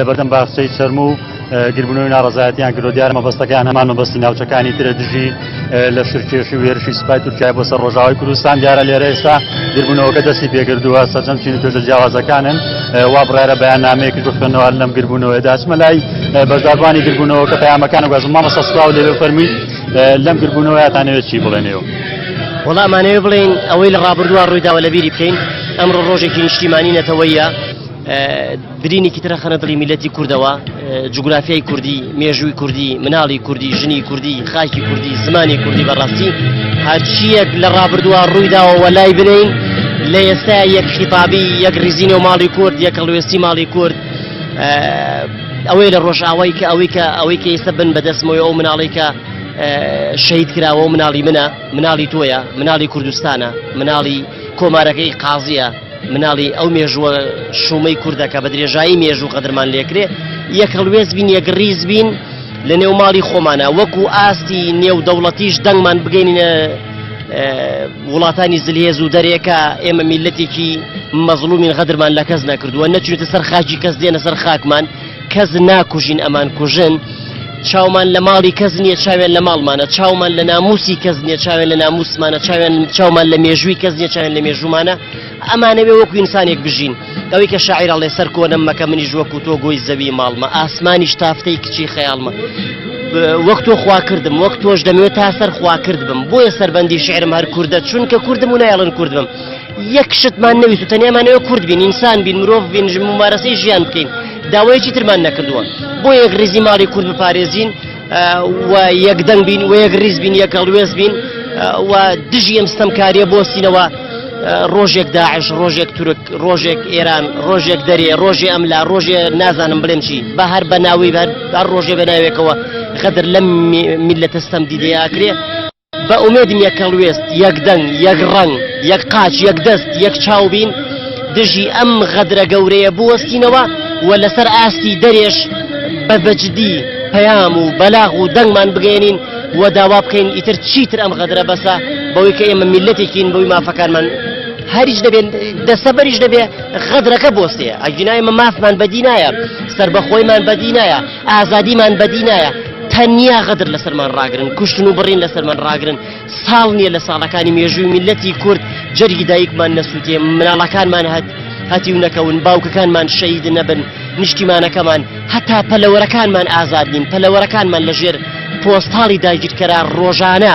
لەبەردەم باخچەی چەرموو و گربنەوەی ناڕەزایەتیان کردو دیارە مەبەستەکەیان هەمان مەبەستی ناوچەکانی ترە دژی لە شرکێشی و هێرشی سپای تورکای بۆ سەر ڕۆژاوای کوردستان دیارە لێرە ئێستا گربوونەوەکە دەستی پێکردووە سەرجەم چین و توێژە جیاوازەکانن وا بڕارە بەیان نامەیەکی بخوێنەوە لەم گربوونەوەی داچمە لای بەشداربانی گربوونەوەکە پەیامەکان و گەزم مامەسە سلااو لێ فەرمی لەم گربوونەوەیاتانەوێت چی بڵێنەوە وەڵامانەوە بڵین ئەوەی لە ڕابردووە ڕوویداوە لەبیری بکەین ئەمڕۆ ڕۆژێکی نیشتیمانی نەتەوەیە برینێکی تر ئەخەنە دڵی میلەتی کوردەوە جوگرافیای کوردی مێژووی کوردی مناڵی کوردی ژنی کوردی خاکی کوردی زمانی کوردی بەڕاستی هەرچیەک لە ڕابردووە ڕوویداوەوە لای بنین لە ئێستا یەک خیتابی یەک ریزینە و ماڵی کورد یەک هەڵوێستی ماڵی کورد ئەوەی لە ڕۆژاوای کە ئەوەی کە ئەوەی کە ئێستا بن بەدەستمەوەی ئەو مناڵی کە شەید کراوە و مناڵی منە مناڵی تۆیە مناڵی کوردستانە مناڵی کۆمارەکەی قازیە مناڵی ئەو مێژووە شومەی کوردەکە بە درێژایی مێژوو قەدرمان لێکرێ یەک هەڵوێز بین یەکڕیز بین لە نێو ماڵی خۆمانە وەکو ئاستی نێو دەوڵەتیش دەنگمان بگەینە وڵاتانی زلهێز و دەرێکە ئێمە میلەتێکی مەزلومین غەدرمان لە کەس نەکردووە نەچێتە سەر خاکی کەس دێنە سەر خاکمان کەس ناکوژین ئەمان کوژن چاومان لە ماڵی کەس نییە چاوێن لە ماڵمانە چاومان لە ناموسی کەس نییە چاوێن لە ناموسمانە چاوێن چاومان لە مێژووی کەس نیە چاوێن لە مێژوومانە ئەمانەوێ وەکو ئینسانێک بژین ئەوەی کە شاعیرە لێ سەر کۆنم مەکە منیش وەکو تۆ گۆی زەوی ماڵمە ئاسمانیش تافتەی کچی خەیاڵمە وەکتۆ خوا کردم وەک تۆش دەمێت تا سەر خوا کرد بم بۆیە سەربەندی شعرم هەر کووردە چونکە کوردم و نایڵن کوردم یەک شتمان نەویست و تەنیامانەوە کورد بین ئینسان بین مرۆڤ بین ممارەسەی ژیان بکەین داوایەکی ترمان نەکردووە بۆ یەک ریزی ماڵی کورد بپارێزین و یەک دەنگ بین و یەک ریز بین یەک هەڵوێز بین و دژی ئەم ستەمکاریە بۆسینەوە ڕۆژێک داعش ڕۆژێک تورک ڕۆژێک ئێران ڕۆژێک دەرێ ڕۆژێ ئەم لا ڕۆژێ نازانم بڵێم چی بە هەر بە ناوی بەر ڕۆژێ بە ناوێکەوە غەدر لەم میلەتەستەم دیدەیەکرێ بە ئومێدم یەک هەڵوێست، یەک دەنگ، یەک ڕەنگ، یەک قاچ، یەک دەست، یەک چاو بین، دژی ئەم غەدرە گەورەیە بوەستینەوە و لەسەر ئاستی دەرێش بە بەجدی پەیام و بەلاغ و دەنگمان بگەیەنین و داوا بکەین ئیتر چیتر ئەم غەدرە بەسە بەوەی کە ئێمە میللەتێکین بەوەی مافەکانمان هەریچ دەبێن دەستەبەریش دەبێ غەدرەکە بۆستێ ئەگینا ئێمە مافمان بەدی نایە سەربەخۆیمان بەدی نایە. ئازادیمان بەدی نایە تەنیا غەدر لەسەرمان ڕاگرن کوشتن و بڕین لەسەرمان ڕاگرن ساڵ نییە لە ساڵەکانی مێژووی میلەتی کورد جەرگی دایکمان نەسووتێ مناڵەکانمان هەت هەتی و نەکەون باوکەکانمان شەید نەبن نیشتیمانەکەمان هەتا پەلەوەرەکانمان ئازادین پەلەوەرەکانمان لەژێر پۆستاڵی داگیرکەرە ڕۆژانە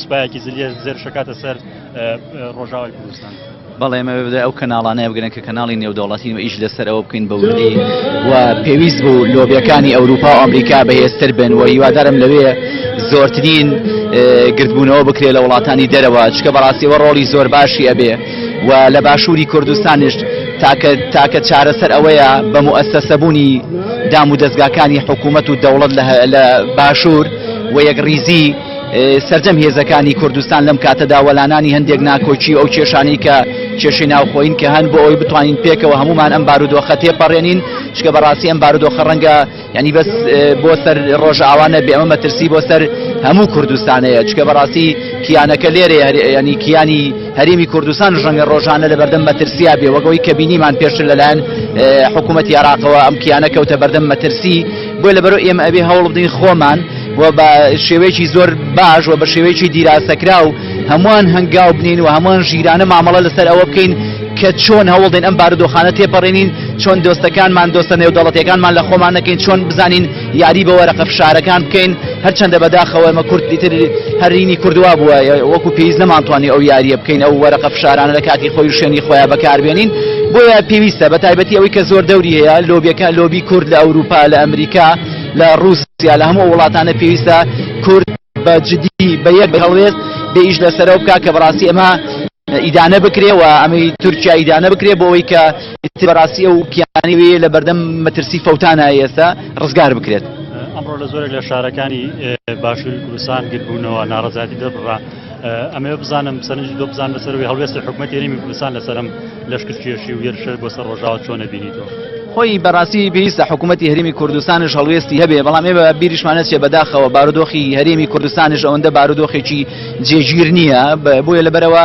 سوپایەکی زلیە زێرشەکاتە سەر ڕۆژاوای کوردستان. بەڵێمەوێ بدە ئەو کەناڵانەیە بگرن کە کەناڵی نێودەوڵەتین و ئیش لەسەر ئەوە بکەین بەوردی و پێویست بوو لۆبیەکانی ئەوروپا و ئەمریکا بەهێزتر بن و هیوادارم لەوێ زۆرترین گردبوونەوە بکرێت لە وڵاتانی دەرەوە چکە بەڕاستیەوە ڕۆڵی زۆر باشی ئەبێ و لە باشووری کوردستانیش تاکە تاکە چارەسەر ئەوەیە بە موئسسەبوونی دام و دەستگاکانی حکوومەت و دەوڵەت لە باشوور و یەک ڕیزی سەرجەم هێزەکانی کوردستان لەم کاتەدا وەلانانی هەندێک ناکۆکی ئەو کێشانەی کە کێشی ناوخۆین کە هەن بۆ ئەوی بتوانین پێکەوە هەمومان ئەم بارودۆخە تێپەڕێنین شکە بەڕاستی ئەم بارودۆخە ڕەنگە ینی بەس بۆ سەر ڕۆژاوانە بێمە مەترسی بۆ سەر هەموو کوردستانەیە چکە بەڕاستی کیانەکە لێرە ینی کیانی هەرێمی کوردستان ژەنگە ڕۆژانە لە بەردەم مەترسیا بێ وەگەوەی کە بینیمان پێشتر لەلایەن حکوومەت یاراقەوە ئەم کیانە کەوتە بەردەم مەترسی بۆیە لەبەرو ئێمە ئەبێ هەوڵ بدەین خۆمان و بە شێوەیەکی زۆر باش و بە شێوەیەکی دیراسەکرا و هەمووان هەنگاو بنین و هەمووان ژیرانە مامەڵە لەسەر ئەوە بکەین کە چۆن هەوڵدەین ئەم بارودۆخانە تێپەڕێنین چۆن دۆستەکانمان دۆستە نێودەڵەتەکانمان لە خۆمان نەکەین چۆن بزانین یاری بە وەرەقە فشارەکان بکەین هەرچەندە بەداخەوە ئێمە کورد ئیتر هەرینی کوردوا بووە وەکو پێویست نەمانتوانی ئەو یاریە بکەین ئەو وەرەقە فشارانە لە کاتی خۆی شوێنی خۆیان بەکاربێنین بۆیە پێویستە بە تایبەتی ئەوەی کە زۆر دەوری هەیە لۆبیەکە لۆبی کورد لە ئەوروپا لە ئەمریکا لە رووسیا لە هەموو وڵاتانە پێویستە کورد بە جدی بە یەک هەڵوێست بێ ئیش لەسەرەوە بک کە بەڕاستی ئەمە ئیدانە بکرێ و ئەمەی تورکیا ئیدانە بکرێ بۆ ئەوەی کە ئێستی بەڕاستی ئەو کیانی وێ لە بەردەم مەترسی فەوتانە ئێستا ڕزگار بکرێت ئەمڕۆ لە زۆرێک لە شارەکانی باشووری کوردستان گربوونەوە ناڕزایتی دەربڕا ئەمێ بزانم سەرنجی دۆ بزان لەسەروی هەڵوێستی حکوومەت یاریمی کوردستان لەسرم لەشکر کێشی و یێرشەر بۆ سەر ڕۆژاوە چۆنە بینیتەوە خۆی بەڕاستی پێویستە حکوومەتتی هەرمی کوردستانش هەڵوێستی هەبێ بەڵام ئێمە بیریشمانەت چێ بەداخەوە بارودۆخی هەرێمی کوردستانش ئەوەندە بارودۆخێکی جێگیر نییە بۆیە لەبەرەوە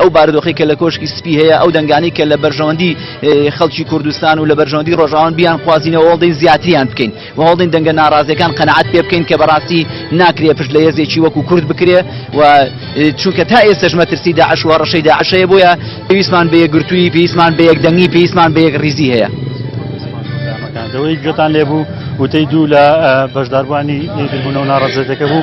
ئەو بارودۆخی کە لە کۆشکی سپی هەیە ئەو دەنگانی کە لە بەرژەوەندی خەڵکی کوردستان و لە بەرژەوەندی ڕۆژاوان بیان خوازینەوە هەڵدەین زیاتریان بکەین و هەڵدەین دەنگە ناڕازیەکان قەنەعات پێ بکەین کە بەڕاستی ناکرێ پشت لە هێزێکی وەکو کورد بکرێ و چونکە تا ئێستش مەترسی داعش و هەڕەشەی داعشەیە بۆیە پێویستمان بە یەکگرتووی پێویستمان بە یەکدەنگی پێویستمان بە یەک ریزی هەیە دەوەی گوێتان لێبوو وتەی دوو لە بەشداربووانی یەکگربوونەوە ناڕەزێتەکە بوو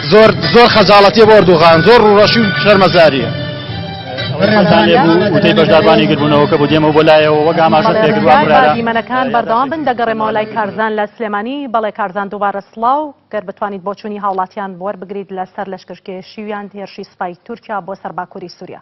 زۆر زۆر خەجاڵەتیە بۆ ئەردوغان زۆر ڕوڕەشی و شەرمەزاریە وتەی بەشداربانی گربوونەوەکە بۆ دێمە بۆ لایەوە وەک ئاماژە پێکردوانمانەکان بەردەوام بن دەگەڕێمەوە لای کارزان لە سلێمانی بەڵێ کارزان دووبارە سلااو گەر بتوانیت بۆچوونی هاوڵاتیان بوەر بگریت لەسەر لەشکرکێشیویان هێرشی سوپای تورکیا بۆ سەر باکووری سووریا